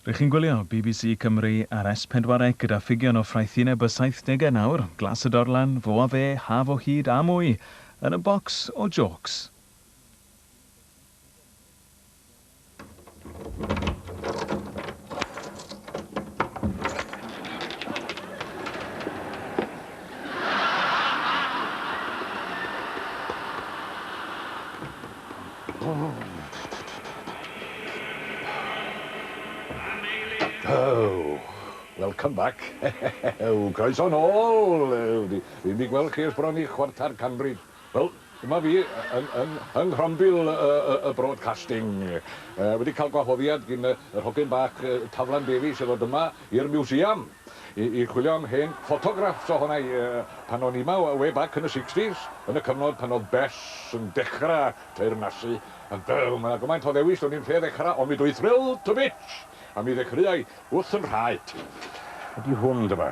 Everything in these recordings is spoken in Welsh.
Rych chi'n gwylio bbc Cymru ar S4C gyda ffigion o ffraethineb y saithdegau nawr, Glas y Dorlan, Fo a Fe, Haf o Hyd a mwy yn y bocs o jôcs. Welcome back! Croeso nôl! Fi'n mynd i gweld chi ers bron i chwarter canrif. Wel, dyma fi, yng nghrombil y broadcasting. Wedi cael gwahoddiad gin yr hogyn bach Taflan Davies i ddod yma i'r Museum i i chwilio am hen ffotograffs ohona i pan o'n i 'ma way back yn y sixties, yn y cyfnod pan oedd Bess yn dechra teyrnasu a byw 'ma. Gymaint o ddewis do'n i'm lle ddechra ond mi dw i thrilled to bits a mi ddechreuai wrth 'y nhraed. Ydi hwn, dyma.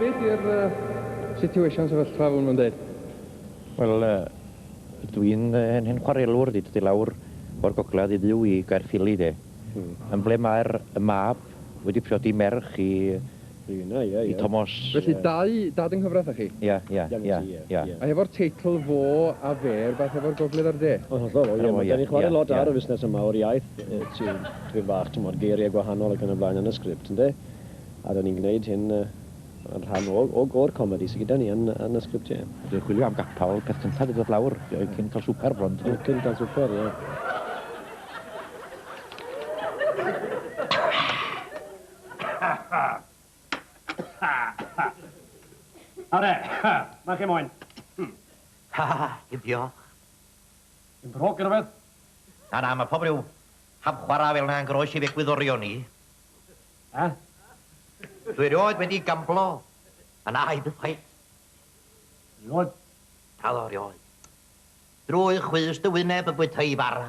Be di'r situation sefyllfa hwn yn dweud? Wel, dwi'n hen hen chwarelwr, di dod i lawr o'r gogledd i fyw i Gaerffili de. Yn ble mae'r mab wedi priodi merch i i Tomos. Felly dau dad yng nghyfraith â chi? Ia, ia, ia, ia. A hefo'r teitl 'Fo a Fe' rywbeth hefo'r Gogledd a'r De? Yn hollol, o ie, ma'... 'dan ni'n chware lot ar y fusnes yma o'r iaith, ti'n tipyn bach, t'mod, geiriau gwahanol ac yn y blaen yn y sgript, ynde? A 'dan ni'n gwneud hyn yn rhan o o o'r comedi sy gyda ni yn yn y sgript, ie. Dwi'n chwilio am gapel, peth cynta dwi'n dod lawr, cyn cael swper bron, dydw? Cyn cael swper, ie. Are, mae chi moyn. Ha, ha, ha, diolch. Yn drwg gyda beth? Na, na, mae pob rhyw hap chwarae fel yna yn groes i'r egwyddorion ni. Ha? Dwi rioed wedi gamblo. A na, i byth chwaith. Rioed? Na ddo, rioed. Drwy chwys dy wyneb y bwytai bara.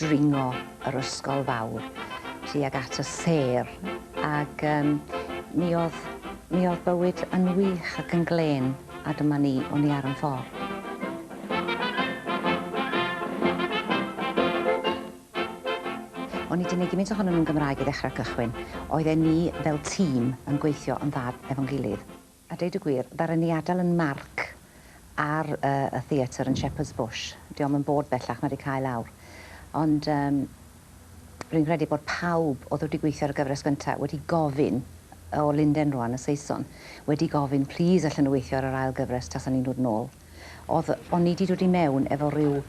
dringo yr ysgol fawr tuag at y sêr ac yym mi o'dd mi o'dd bywyd yn wych ac yn glên a dyma ni, o'n ni ar yn ffor. O'n i 'di neud gymint ohonyn nhw'n Gymraeg i ddechra cychwyn. Oedden ni fel tîm yn gweithio yn dda efo'n gilydd. A deud y gwir, ddaru ni adael yn marc ar y theatr yn Shepherd's Bush. Dio'm yn bod bellach na 'di cau lawr. Ond yym rwy'n credu bod pawb oedd wedi gweithio ar y gyfres gyntaf wedi gofyn, o Linden rwan, y Saeson, wedi gofyn, 'Plis allen nhw weithio ar yr ail gyfres tasa ni'n dod nôl? Oedd, o'n i 'di dod i mewn efo ryw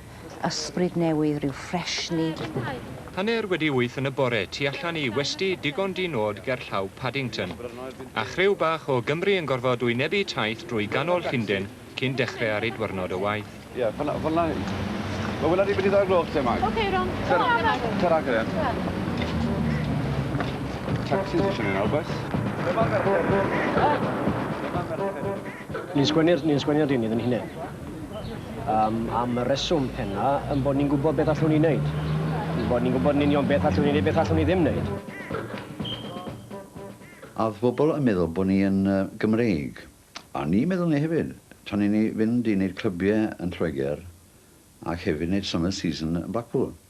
ysbryd newydd, ryw ffresni. Hanner wedi wyth yn y bore, tu allan i westy digon di-nod gerllaw Paddington. A chriw bach o Gymry yn gorfod wynebu taith drwy ganol Llunden cyn dechre ar eu dwyrnod o waith. Ie, fynna, fynna hyn. Wel, wela ni be' 'di ddau o'r gloch te, Mike. Ok, Ron. Tara. Tara, Geraint. Tacsis isio ni nawr, bois. Dyma merched. Dyma merched. Ni'n sgwennu'r, ni'n sgwennu'r deunydd yn hunain. Um, am y reswm penna, yn bod ni'n gwybod beth allwn ni wneud. Yn bod ni'n gwybod yn union beth allwn ni wneud, beth allwn ni ddim wneud. A oedd pobl yn meddwl bod ni yn uh, Gymreig. A ni meddwl ni hefyd. Tan i ni fynd i wneud clybiau yn Lloegr, ac hefyd wneud summer season yn Blackpool.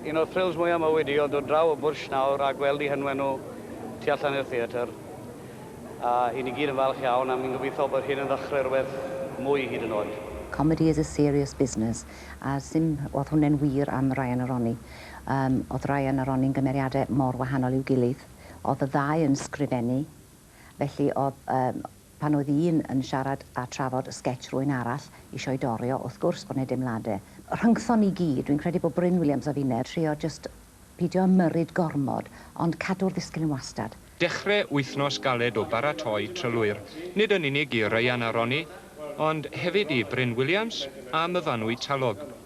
Un o'r thrills mwyaf mywyd i oedd dod draw o Bwrsh nawr a gweld i hynwen nhw tu allan i'r theatr. A i ni gyd yn falch iawn a mi'n gobeithio bod hyn yn ddechrau rhywbeth mwy hyd yn oed. Comedy is a serious business a sim oedd hwnne'n wir am Ryan a Ronnie. Yym, oedd Ryan a Ronnie'n gymeriadau mor wahanol i'w gilydd. Oedd y ddau yn sgrifennu, felly oedd, yym, Pan oedd un yn siarad a trafod sgetsh rwy'n arall isio'i dorri o wrth gwrs bod ne deimlade rhyngthon ni gyd, dwi'n credu bod Bryn Williams a finne trio jyst pidio ymyrryd gormod ond cadw'r ddisgyl yn wastad. Dechre wythnos galed o baratoi trylwyr, nid yn unig i Ryan a Ronnie ond hefyd i Bryn Williams a Myfanwy Talog.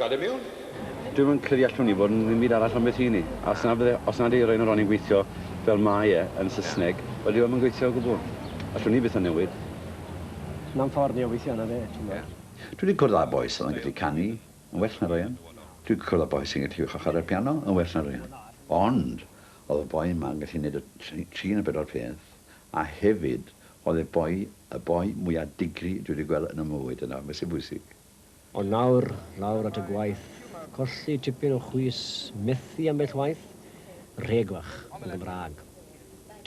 Gad e miwn. Dwi'm yn credu allwn ni fod yn ddim byd arall ond beth ry'n ni. A os na bydde, os nad yw Rain Ronnie'n gweithio fel mae e yn Saesneg, wel dyw e ddim yn gweithio o gwbl. Allwn ni byth o newid. Na'm ffordd ni o weithio arno fe, ti'n gwbod. Dwi 'di cwrdd â boi sydd yn gallu canu yn well na Rain. Dwi 'di cwrdd â boi sy'n gallu chwarae'r piano yn well na Rain. Ond o'dd y boi 'ma yn gallu neud y tri ne' bedwar peth, a hefyd o'dd e boi, y boi mwya digri dwi 'di gweld yn 'y mywyd, a 'na be' sy bwysig. Ond nawr, lawr at y gwaith. Colli tipyn o chwys, methu ambell waith? Rheglwch, yn Gymraeg.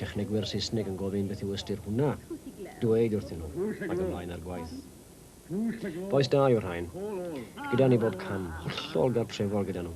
Technegwyr Saesneg yn gofyn beth yw ystyr hwnna? Dweud wrthyn nhw, ac ymlaen â'r gwaith. Bois da yw rhain. Gyda ni bob cam, hollol gartrefol gyda nhw.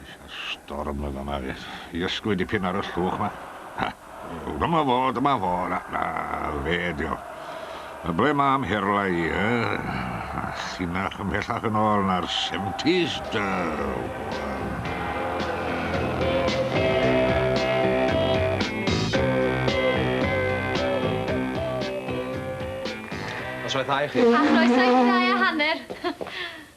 Eisiau storm yn fan'na fyth. I ysgwyd dipyn ar y llwch 'ma. Ha! O, dyma fo, dyma fo. Na, na, fe ydi o. A ble mae amherlau i, e? A llinach ymhellach yn ôl na'r seventies, da! Noswaith dda i chi. A chroeso i chi ddau a hanner.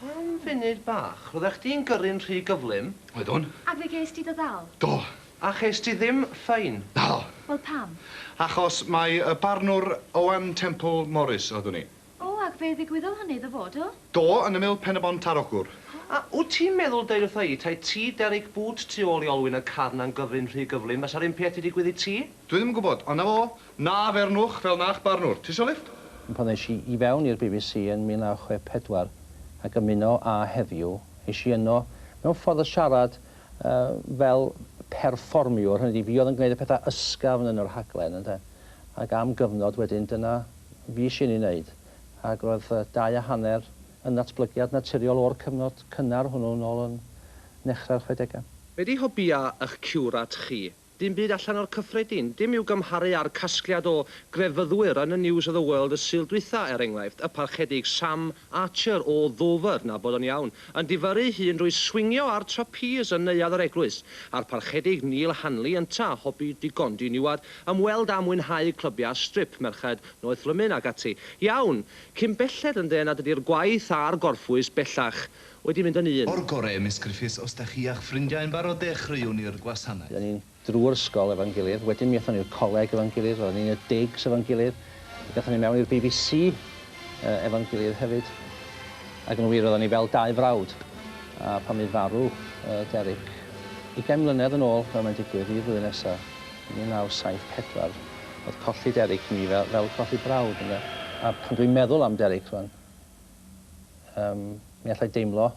Am funud bach, roeddech chdi'n gyrru'n rhy gyflym. Oeddwn. Ac fe gest ti dy ddal. Do. A chest ti ddim ffein. Naddo. Wel pam? Achos mai y barnwr Owen Temple Morris oeddwn i. O, ac fe ddigwyddodd hynny iddo fo, do? Do, yn ymyl Pen-y-bont ar Ogwr. A wyt ti'n meddwl deud wrtha i, 'Tae ti Derek Boots tu ôl i olwyn y carn a'n gyfri'n rhy gyflym, fasa'r un peth 'di digwydd i ti? Dwi ddim yn gwybod, ond 'na fo, Na fernwch fel na'ch barnwr. Tisio lifft? Pan es i i fewn i'r bbc yn 1964 ac ymuno â Heddiw, es i yno mewn ffordd o siarad fel perfformiwr, hynny ydi, fi oedd yn gwneud y pethau ysgafn yn y rhaglen, ynde. Ac am gyfnod wedyn, dyna fues i'n ei wneud. Ac roedd dau a hanner yn ddatblygiad naturiol o'r cyfnod cynnar hwnnw nôl yn nechrau'r chwedegau. Be 'di hobïau ych ciwrat chi? Dim byd allan o'r cyffredin. Dim i'w gymharu â'r casgliad o grefyddwyr yn y News of the World y Sul dwytha, er enghraifft, y Parchedig Sam Archer o Ddover, na bod o'n iawn, yn difyrru'i hun drwy swingio ar trapîs yn neuadd yr eglwys, a'r Parchedig Neil Hanley ynta, hobi digon diniwad, ymweld â mwynhau clybiau strip, merched, noethlymun ac ati. Iawn! Cyn belled yn dde nad ydi'r gwaith a'r gorffwys bellach Wedi mynd yn un. O'r gore Miss Griffiths os da chi a'ch ffrindiau yn barod dechreuwn ni'r gwasanaeth. Roedden ni'n drwy'r ysgol efo'n gilydd, wedyn mi aethon ni i'r coleg efo'n gilydd, roedden ni'n y digs efo'n gilydd, ac aethon ni mewn i'r bbc efo'n gilydd hefyd, ac yn wir roedden ni fel dau frawd, a pan fydd farw Derek ugain mlynedd yn ôl fel mae'n digwydd i flwyddyn nesa, 1974, oedd colli Derek i mi fel colli brawd ynde, a pan dwi'n meddwl am Derek rwan, Yym, mi allai deimlo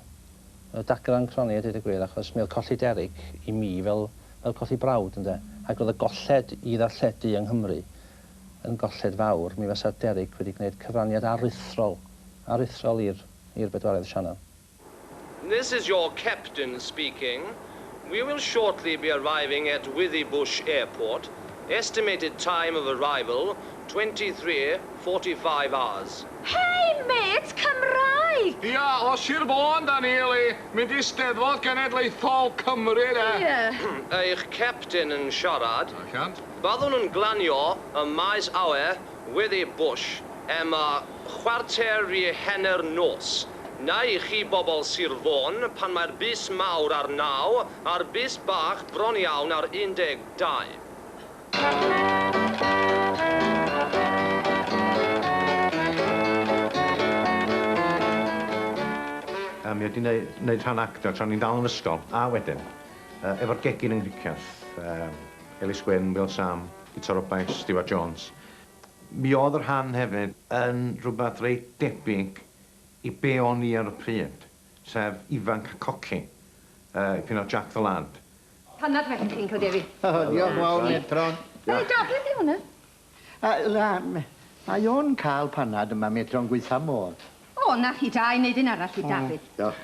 yy dagrau yn cronni a deud y gwir, achos mi oedd colli Derek i mi fel fel colli brawd, ynde? Ac oedd y golled i ddarlledu yng Nghymru yn golled fawr. Mi fasa Derek wedi gwneud cyfraniad aruthrol aruthrol i'r i'r bedwaredd sianel. This is your captain speaking, we will shortly be arriving at Withybush Airport, estimated time of arrival 23 45 hours. Hei mêt Cymraeg! Ia, o Sir Fôn 'da ni Eli, mynd i Steddfod Genedlaethol Cymru 'de. Ie. Eich captain yn siarad. Allant. Byddwn yn glanio ym maes awyr Withybush am chwarter i hanner nos. Neu i chi bobl Sir Fôn, pan mae'r bys mawr ar naw, a'r bys bach bron iawn ar 12. A mi oedd 'di neu- neud rhan actio tra o'n i'n dal yn ysgol, a wedyn, yy, efo'r gegin yng Nghricieth, yym, Elis Gwyn, Wil Sam, Guto Roberts, Stiwart Jones. Mi oedd y rhan hefyd yn rhywbeth reit debyg i be o'n i ar y pryd, sef ifanc a coci, dipyn o Jack the Lad. Panad fach i ti, Uncle Davey. O, diolch fawr, Metron. Hei, Dad, be 'di hwn 'n? Yy, mae o'n cael panad yma, Metron, gwaetha' modd. O, 'na chi, da i neud un arall i Dafydd. Diolch.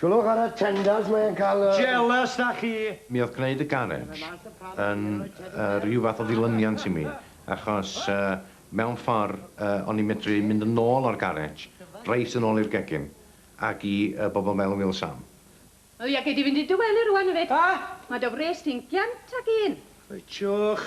Sylwch ar y tenders, mae e'n cael y... Jealous 'da chi! Mi oedd gwneud y garej yn rhyw fath o ddilyniant i mi, achos mewn ffordd o'n i'n medru mynd yn ôl o'r garej, reit yn ôl i'r gegin, ac i bobl fel Wil Sam. O ia, gei di fynd i dy wely rŵan, hefyd. Mae dy wres di'n giant ac un. Reit, siwch.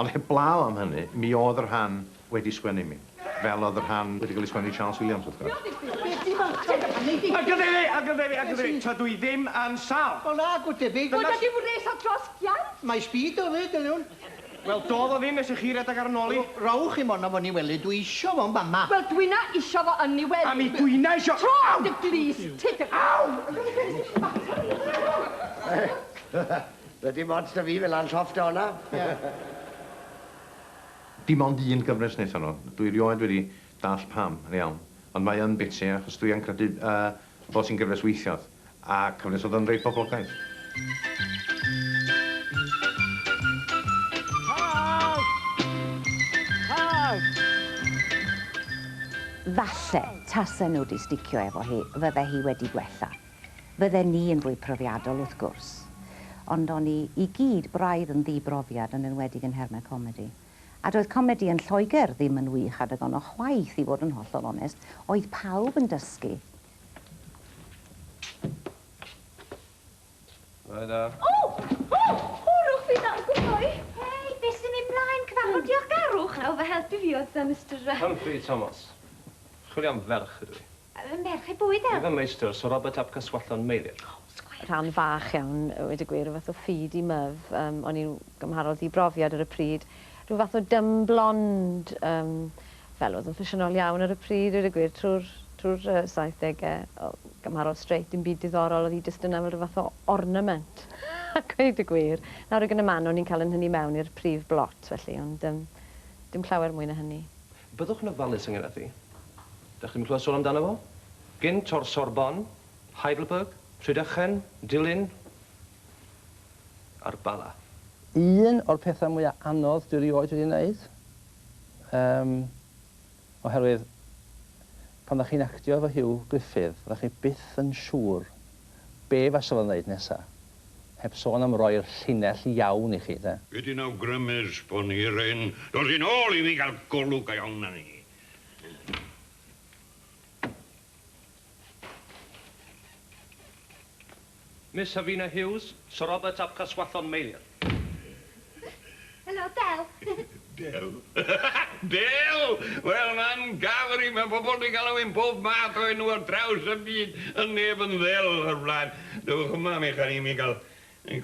Ond heblaw am hynny, mi oedd y rhan wedi sgwennu i mi, fel oedd y rhan wedi cael ei sgwennu i Charles Williams, wrth gwrs. Ac yn debyg, ac yn debyg, ac yn debyg, tydw i ddim yn sâl! Wel, nagw, debyg. Bod wedi wres o dros giant! Mae speed o 'fyd, yn iawn. Wel, dodd o ddim nes i chi redeg ar 'y nol i. Rowch i morn â fo yn 'i wely, dwi isio fo yn fama. Wel, dwi'na isio fo yn 'i wely. A mi dwi'na isio. Tro am dy glust ti, dy. Aw! Doedd dim ots 'da fi fela yn llofft o honna. Dim ond un gyfres wnaethon nhw. Dwi rioed wedi dallt pam, yn iawn. Ond mae yn biti, achos dwi yn credu bod hi'n gyfres weithiodd, a cyfres oedd yn reit boblogaidd. Falle, tase nhw 'di sticio efo hi, fydde hi wedi gwella. Fydden ni yn fwy profiadol, wrth gwrs. Ond o'n ni i gyd braidd yn ddi-brofiad, yn enwedig yn nhermau comedi. A doedd comedi yn Lloegr ddim yn wych adeg honno chwaith, i fod yn hollol onest. Oedd pawb yn dysgu. Bore da. O! O! Hwrwch fi dan gwae! Hei, be sy'n mynd mlaen? Cyfarfod diolchgarwch? Nawr fy helpu fi oedd Sir Mister yy... Humphrey Thomas. Chwilio am ferch ydw i. Fy merch ei bwyd ef! Fy meistr, Sir Robert ap Caswallon, Meilir. Rhan fach iawn, a weud y gwir, o fath o feed i myf. Yym, o'n i'n gymharol ddi-brofiad ar y pryd. Rhyw fath o dumb blonde, yym, fel oedd yn ffasiynol iawn ar y pryd, dweud y gwir, trwy'r, trwy'r yy saithdege. O, gymharol straight, dim byd diddorol, oedd hi jyst yna fel rhyw fath o ornament, a gweud y gwir. Nawr ag yn y man, o'n i'n cael 'y nhynnu mewn i'r prif blot, felly, ond yym, dim llawer mwy na hynny. Byddwch yn ofalus ynglŷn â thi. Dach chi ddim yn clywed sôn amdano fo? Gynt o'r Sorbonne, Heidelberg, Rhydychen, Dulyn a'r Bala. Un o'r pethau mwya anodd dwi rioed wedi neud. Yym. Oherwydd pan dach chi'n actio efo Hugh Griffith, dach chi byth yn siŵr be fasa fo'n ddeud nesa. Heb sôn am roi'r llinell iawn i chi, de. Gei di'n awgrymus bod ni r'un dod yn ôl i mi gael golwg go iawn arni. Miss Havina Hughes, Sir Robert ap Caswallon Meilir. Helo, Del! Del? Del! Wel, man Gafri, mae pobl 'di galw fi'n pob math o enw ar draws y byd, ond neb yn ddel o'r blaen. Dewch yma, mi chan i mi gael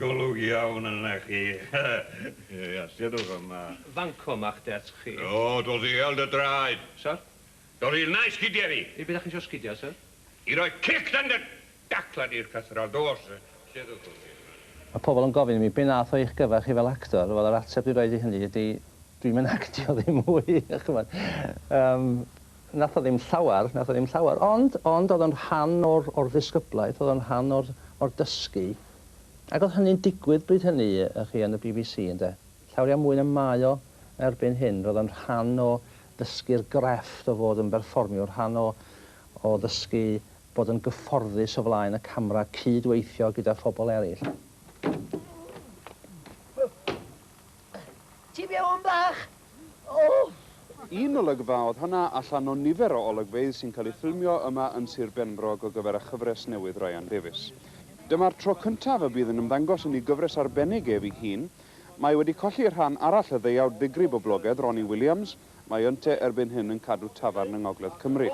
golwg iawn arna chi. Ia, sefwch yma. Fanco 'ma'ch desg chi. O, dw ddial dy draed. Sor? Dol i yna i sgidiau fi! I'r byd a chi isio sgidiau, syr? I roi cic dan dy dacla di i'r cythraul, do, syr. Lle ddododd ti yma? Mae pobl yn gofyn i mi, 'Be wnaeth o i'ch gyfer chi fel actor? Wel, yr ateb dwi'n rhoid i hynny ydy, dwi'm yn actio ddim mwy, chimod. Yym, wnaeth o ddim llawer, wnaeth o ddim llawer, ond, ond oedd o'n rhan o'r, o'r ddisgyblaeth, oedd o'n rhan o'r, o'r dysgu. Ac oedd hynny'n digwydd bryd hynny, y'ch chi, yn y bbc, ynde. Llawriau mwy na mae o erbyn hyn. Roedd o'n rhan o ddysgu'r grefft o fod yn berfformiwr, rhan o o ddysgu bod yn gyfforddus o flaen y camera, cyd-weithio gyda phobl eraill. Ti fewn bach? O! Un olygfa oedd honna allan o nifer o olygfeydd sy'n cael eu ffilmio yma yn Sir Benfro ar gyfer y chyfres newydd Ryan Davies. Dyma'r tro cyntaf y bydd yn ymddangos yn ei gyfres arbennig ef ei hun, Mae wedi colli rhan arall y ddeuawd ddigrif boblogedd, Ronnie Williams, mae yntau erbyn hyn yn cadw tafarn yng Ngogledd Cymru.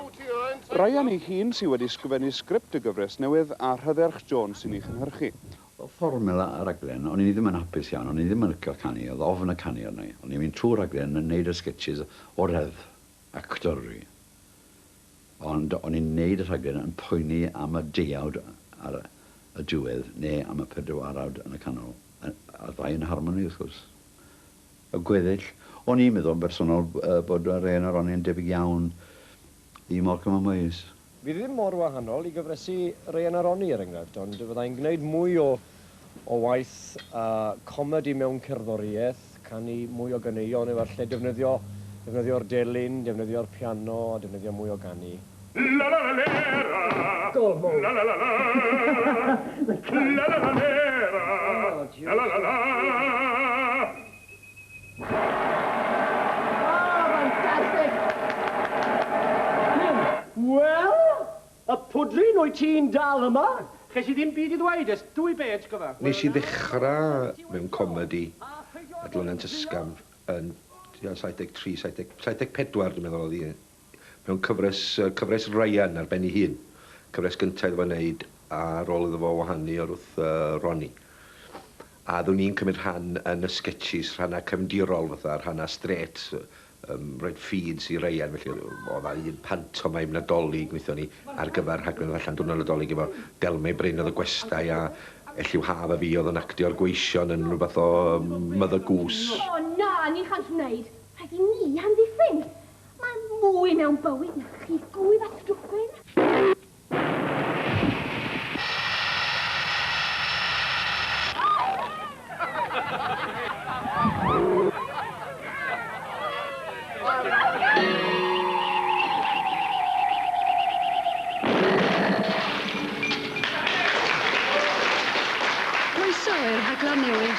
Ryan ei hun sydd wedi sgrifennu sgript y gyfres newydd, a Rhydderch Jones sy'n ei chynhyrchu. Oedd fformula y raglen, o'n i ddim yn hapus iawn, o'n i ddim yn licio canu, oedd ofn y canu arna i, o'n i'n mynd trwy'r rhaglen yn neud y sgetshis o reddf, actor dw i, Ond o'n i'n neud y rhaglen yn poeni am y deuawd ar y diwedd ne am y pedwarawd yn y canol. A'r ddau yn harmoni wrth gwrs. Y gweddill. O'n i'n meddwl yn bersonol bod yr hen Ronnie yn debyg iawn i Malcolm a Moyes. Fi ddim mor wahanol i gyfresi Ryan a Ronnie er enghraifft, ond fyddai'n gneud mwy o O waith a comedi mewn cerddoriaeth, canu mwy o ganeuon efallai, defnyddio, defnyddio'r delyn, defnyddio'r piano a defnyddio mwy o ganu. Gol mowr! Wel! Y pwdryn, wyt ti'n dal yma? Ches i ddim byd i ddweud ers dwy bêj, cofa. Nes i ddechrau mewn comedi a Dloniant Ysgafn yn tua 73, 70, 74 dwi'n meddwl oedd hi, mewn cyfres, cyfres Ryan ar ben ei hun. Cyfres gynta iddo fo wneud a rôl iddo fo wahanu o'r wrth Ronnie. A oeddwn i'n cymryd rhan yn y sgetshis, rhannau cefndirol fatha, rhannau strêt. Ym Mroed Ffydd, Sir Ryan, felly, oedd 'na un pantomaim Nadolig wnaethon ni ar gyfer rhaglen ddarllen Diwrnod Nadolig efo Delmau Bryn oedd y gwestai a Elliw Haf a fi oedd yn actio'r gweision yn rhywbeth o Mother Goose. O na, ni chall wneud! Rhaid i ni amddiffyn! Mae mwy mewn bywyd na chi gŵyb a stwffyn!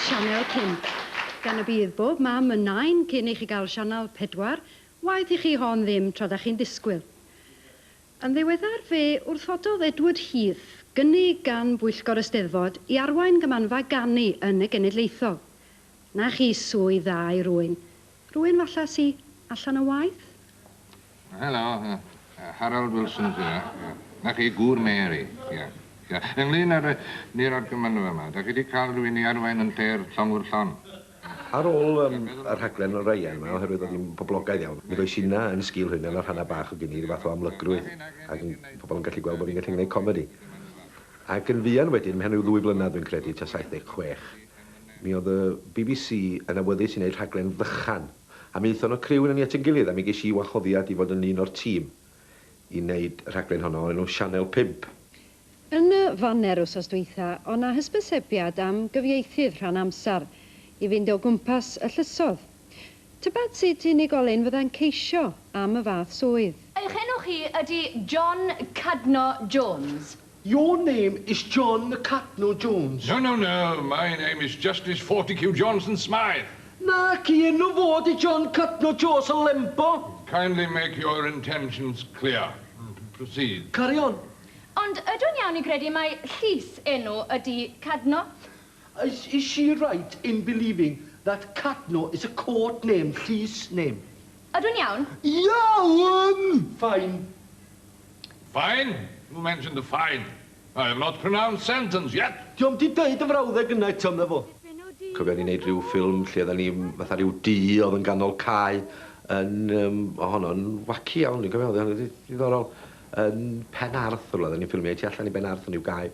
Sianel 5. Gan y bydd bob mam yn nain cyn i chi gael Sianel 4, waeth i chi hon ddim tra da chi'n disgwyl. Yn ddiweddar fe wrthododd Edward Heath gynnig gan Bwyllgor y Steddfod i arwain Gymmanfa Ganu yn y Genedlaethol. Na chi swydd dda i rywun, rywun falla sy allan o waith? Helo, Harold Wilson sy 'na. Na chi, gŵr Mary. Ia. Ia. Ynglŷn â'r yy niwrnod Gymmanfa 'ma, 'dach chi 'di ca'l rywun i arwain ynte'r llongwr llon? Ar ôl yym y rhaglen Orion 'ma oherwydd bod hi'n boblogaidd iawn, mi ddois inna yn sgil hynna ma' rhanna' bach o gyn i ryw fath o amlygrwydd ag yn pobol yn gallu gweld bo' fi'n gallu gneud comedi. Ac yn fuan wedyn, mewn ryw ddwy flynadd dwi'n credu, tua 76, mi o'dd y Bee Bee See yn awyddus i neud rhaglen ddychan, a mi aethon y criw inna ni at 'yn gilydd a mi gesh i wahoddiad i fod yn un o'r tîm i neud y rhaglen honno o'r enw Sianel Pump. Yn y faner wsos dwytha, o' 'na hysbysebiad am gyfieithydd rhan amsar i fynd o gwmpas y llysodd. Tybed sut unigolyn fyddai'n ceisio am y fath swydd? Eich enw chi ydi John Cadno Jones? Your name is John Cadno Jones? No, no, no, my name is Justice Fortecue Johnson Smythe! Naci, enw fo ydi John Cadno Joes o Lembo! Kindly make your intentions clear. Proceed. Carry on. Ond ydw'n iawn i gredu mai Llys enw ydi Cadno? Is is she right in believing that Cadno is a court name, llys name? Ydw'n iawn? Iawn! Fine. Fine? Who mentioned the fine? I have not pronounced sentence yet! Dio'm 'di deud y frawddeg yna eto, medda fo. Cofia o'n i'n neud ryw ffilm lle odda ni fatha ryw du odd yn ganol cae yn yym o honno'n waci iawn dwi'n cofio odd o'n reit ddiddorol. Yn Pen Arthur roedden ni'n ffilmio, i tu allan i Ben Arthur yw gae.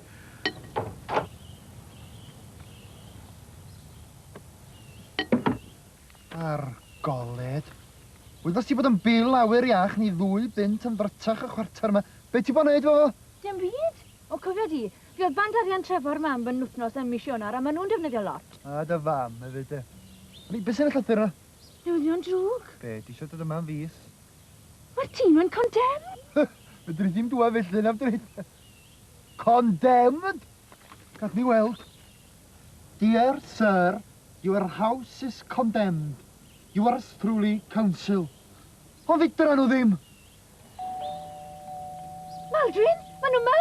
Ar goled. Wyddos ti bod yn bil awyr iach ni ddwy bunt yn ddrytach y chwarter yma. Be ti bo neud efo fo? Dim byd. O cofia di, fi oedd band arian Trefor mam fy nwthnos ym mis Ionar a ma nhw'n defnyddio lot. A dy fam efyd de. Be sy'n y llythyr yna? Newyddion drwg? Be, ti isio dod yma am fis? Mae'r tîm yn condemned! Fedri di'm dwad felly, na'm dwyt? Condemned? Gad ni weld. Dear Sir, your house is condemned. Yours truly, Council. Ond fedran nhw ddim! Maldwyn, maen nhw 'ma!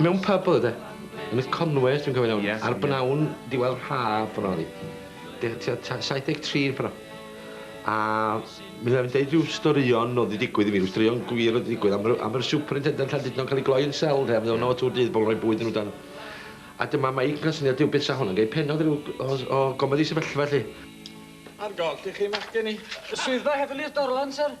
Mewn pyb oedd e. Yn y Conway os dwi'n cofio'n iawn. Yes. Ar bnawn diwedd haf pan o'n i. Deu- tua ta- 73 yn pan 'na. A mi fyddai'n deud ryw storïon oedd 'di digwydd i mi, ryw straeon gwir oedd 'di digwydd am yr am yr superintendant Llandudno'n cael ei gloi yn sel ynde a mi o'dd yno tŵr dydd bobl yn rhoi bwyd yn nhw dan. A dyma Meic yn cael syniad Duw beth sa hwn yn gei pennod ryw o s- o gomedi sefyllfa 'lly. Ar goll i chi machgen i. Y swyddfa heddlu i'r Dorlan, syr.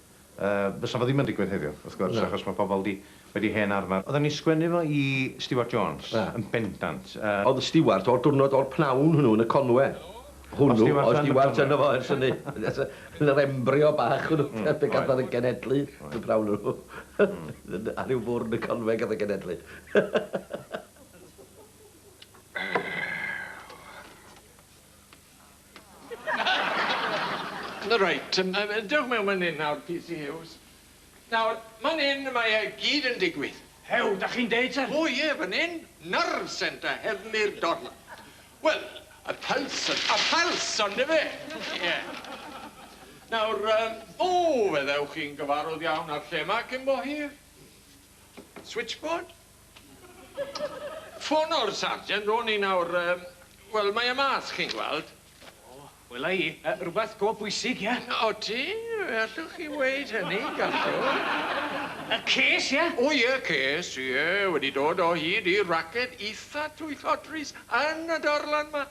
Fysa fo ddim yn digwydd heddiw, wrth gwrs, achos mae pobl wedi, wedi hen arfer. Oedden ni'n sgwennu fo i Stewart Jones, yn bendant. Oedd Stewart, o'r diwrnod, o'r pnawn hwnnw yn y Conwe, hwnnw, oedd Stewart yno fo ers hynny, yn yr embrio bach hwnnw, pe gath o'n genedlu, yn y pnawn hwnnw, ar ryw fwrdd yn y Conwe gath o'n genedlu. Reit, dewch mewn man 'yn nawr, PC Huws. Nawr, man 'yn mae e gyd yn digwydd. Hew, 'dach chi'n deud, syr? O ie, fan 'yn, nerve centre heddlu'r dorf. Wel, y pulse, y pulse, ondife? Ie. Nawr, o, fe ddewch chi'n gyfarwydd iawn â'r lle 'ma cyn bo hir. Switchboard? Ffono'r Sergeant ro'n i nawr, yym, wel, mae e mas, chi'n gweld. O, wela i. Yy, rwbeth go bwysig, ie? Odi, fe allwch chi weud hynny, gallwch. Y ces, ie? O ie, y ces, ie, wedi dod o hyd i raced itha twyllodrus yn y darlan 'ma.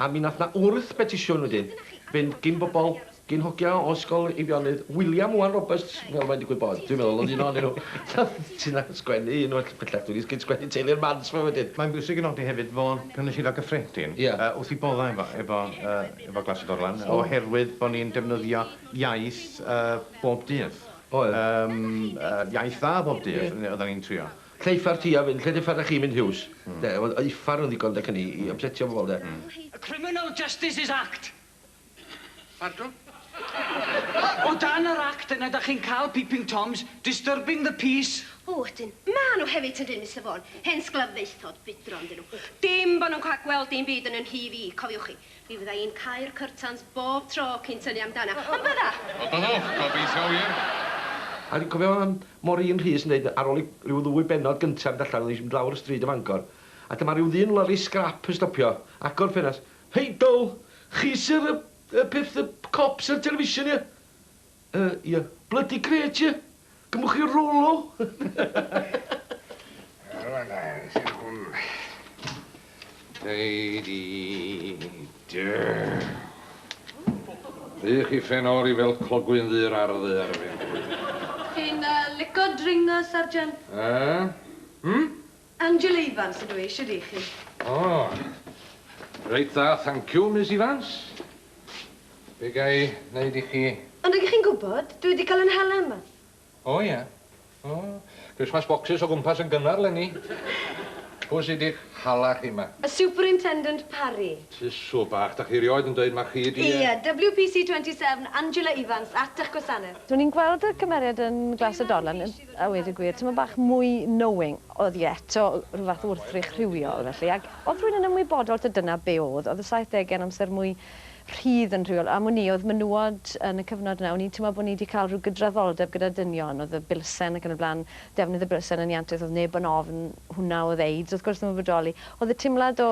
A mi wnaeth 'na wrth betisiwn wedyn fynd gin bobl, gin hogia o Ysgol Eifionydd William Owen Roberts, fel mae'n digwydd bod, dwi'n meddwl, oedd un ohonyn nhw. Ti 'na yn sgwennu un oll bellach, dwi 'di sgyn sgwennu Teulu'r Mans 'ma wedyn. Mae'n bwysig i nodi hefyd fod Cynulleidfa Gyffredin wrth ei boddau efo efo yy efo Glas y Gorlan oherwydd bod ni'n defnyddio iaith yy bob dydd. Oedd. Yym yy iaith dda bob dydd, oeddan ni'n trio. Lle uffar ti a fyn lle dy uffar da chi mynd Huws de wel y uffar yn ddigon de cyn i i ypsetio pobol de. Y Criminal Justices Act. Pardwn? O dan yr Act yna da chi'n cal peeping toms, disturbing the peace. O ydyn, ma nhw hefyd yndyn Mister Vaughan, hen sglaffaethod budron dyn nhw. Dim bo nhw'n ca'l gweld dim byd yn yn nhî fi, cofiwch chi. Mi fydda i'n cau'r cyrtans bob tro cyn tynnu amdana. Ond bydda! Ond byddwch, gobeithio wir! A dwi'n cofio yym Maureen Rhys yn deud ar ôl i ryw ddwy bennod gynta fynd allan, oedd hi'n mynd lawr y stryd o Fangor, a dyma ryw ddyn lorri sgrap yn stopio, agor ffenast, Hei Dow! Chi sy'r yy yy peth yy cops ar television ie? Yy ie. Blydi grêt ie? Gymwch chi Rolo? Rwan da, sy'n hwn. Deidi. Duh. Ydych chi ffen o'r i fel clogwyn ddur ar ddu ar y fen. Chi'n lico dringo, Sergeant? Yy? Hm? Angela Ifans ydw i, shwd 'y chi? O! Reit dda, thanciw, Miss Ifans. Be' ga i neud i chi? Ond ydych chi'n gwybod, dwi wedi cael 'yn hala yma. O ie. O, Christmas boxes o gwmpas yn gynnar 'leni. Pwy sy 'di'ch hala chi 'ma? Y Superintendent Parry. Tusw bach, 'dach chi rioed yn deud mai chi 'di e? Ie, WPC 27, Angela Ifans, at 'ych gwasaneth. Dw i'n gweld y cymeriad yn Glas y Dorlan. A weud y gwir, tymed bach mwy knowing. Oedd hi eto, rhyw fath o wrthrych rhywiol, felly. Ac oedd rhywun yn ymwybodol taw dyna be oedd. Oedd y saithdegau yn amser mwy rhydd yn rhywiol. Am wn i, oedd menywod yn y cyfnod yna, o'n i'n teimlo bod ni 'di cael rhyw gydraddoldeb gyda dynion, oedd y bilsen ac yn y blaen, defnydd y bilsen yn iantus, oedd neb yn ofn hwnna, oedd AIDS, wrth gwrs, ddim yn bodoli. Oedd y teimlad o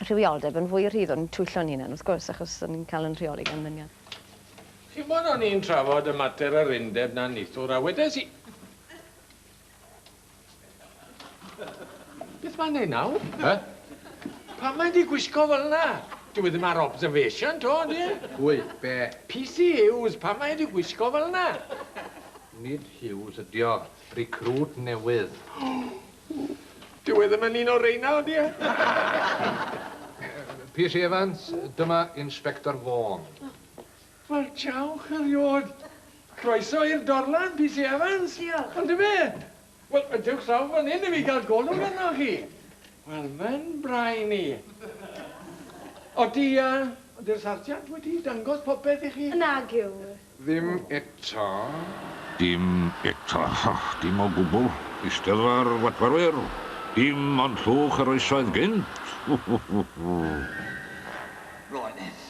rhywioldeb yn fwy rhydd, o'n i'n twyllo'n hunan, wrth gwrs, achos o'n i'n cael yn rheoli gan ddynion. Chimod, o'n i'n trafod y mater yr undeb 'na nithwr, a wedes i... Beth mae'n neud nawr? He? Pam mae di gwisgo fel yna? Dyw e ddim ar observation, to, ydy e? Pwy? Be? PC Hughes, pam mae di gwisgo fel yna? Nid Hughes ydy o. Recruit newydd. Dyw e ddim yn un o reina, ydy e? PC Evans, dyma Inspector Vaughan. Wel, diolch eriod. Croeso i'r dorlan, PC Evans. Diolch. Yndyfe? Wel, dewch draw fan hyn i fi gael golwg arnoch chi. Wel, mae'n brain i. Odi, uh, odi'r sarjant wedi dangos popeth i chi? Nag yw. Ddim eto. Dim eto. Dim o gwbl. Eisteddfa'r Watwarwyr. Dim ond llwch yr oesoedd gynt. Roedd.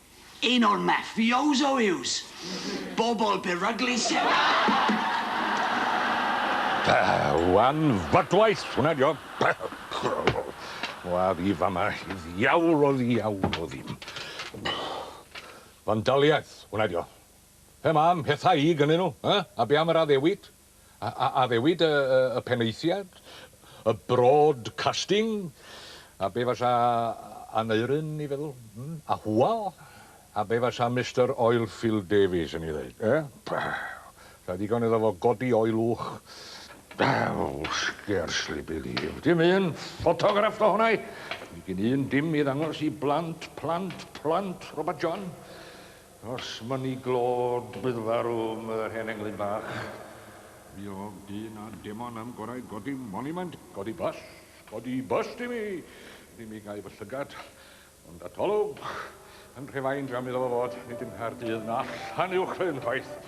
Un o'r mafioso yws bobl beryglus sydd Pah! Wan fadwaith! Hwnna dio! Pah! Wa fi fama i ddiawl o ddiawl o ddim. Fandaliaeth! Hwnna dio! Pe ma am pethau i gynnyn nhw, eh? A be am yr addewid? A addewid y penaethiad, y broadcasting, a be fasa Aneurin i feddwl? Hmm? A Hywel? A be fasa Mister Oilfield Davies yn ei ddeud? Eh? Pah! Sa ddigon iddo fo godi oelwch. Well, scarcely believed. Dim un ffotograff do hwnna i. Gin un dim i ddangos i blant, plant, plant Robert John. Os mynnu glod bydd farw 'm yr hen englyn bach. Mi ôg dyn a demon am gorau godi monumant, codi bust, codi bust i mi, ni mi gau fy llygad, ond atolwg, yn rhefain dram iddo fo fod, nid yng Nghaerdydd na allan uwchlyn chwaith.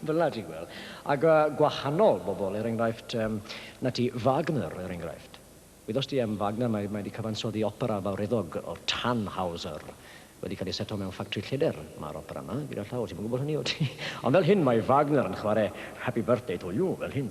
Fel 'na ti'n gweld. Ac yy gwahanol bobl, er enghraifft, yym, 'na ti, Wagner, er enghraifft. Wyddost ti am Wagner? Mae mae 'di cyfansoddi opera fawreddog o'r Tannhauser. Wedi cael ei seto mewn ffactri lleder, ma'r opera 'ma, gyda llaw. Ti'm yn gwybod hynny, wyt ti? Ond fel hyn mae Wagner yn chwarae Happy Birthday to You, fel hyn.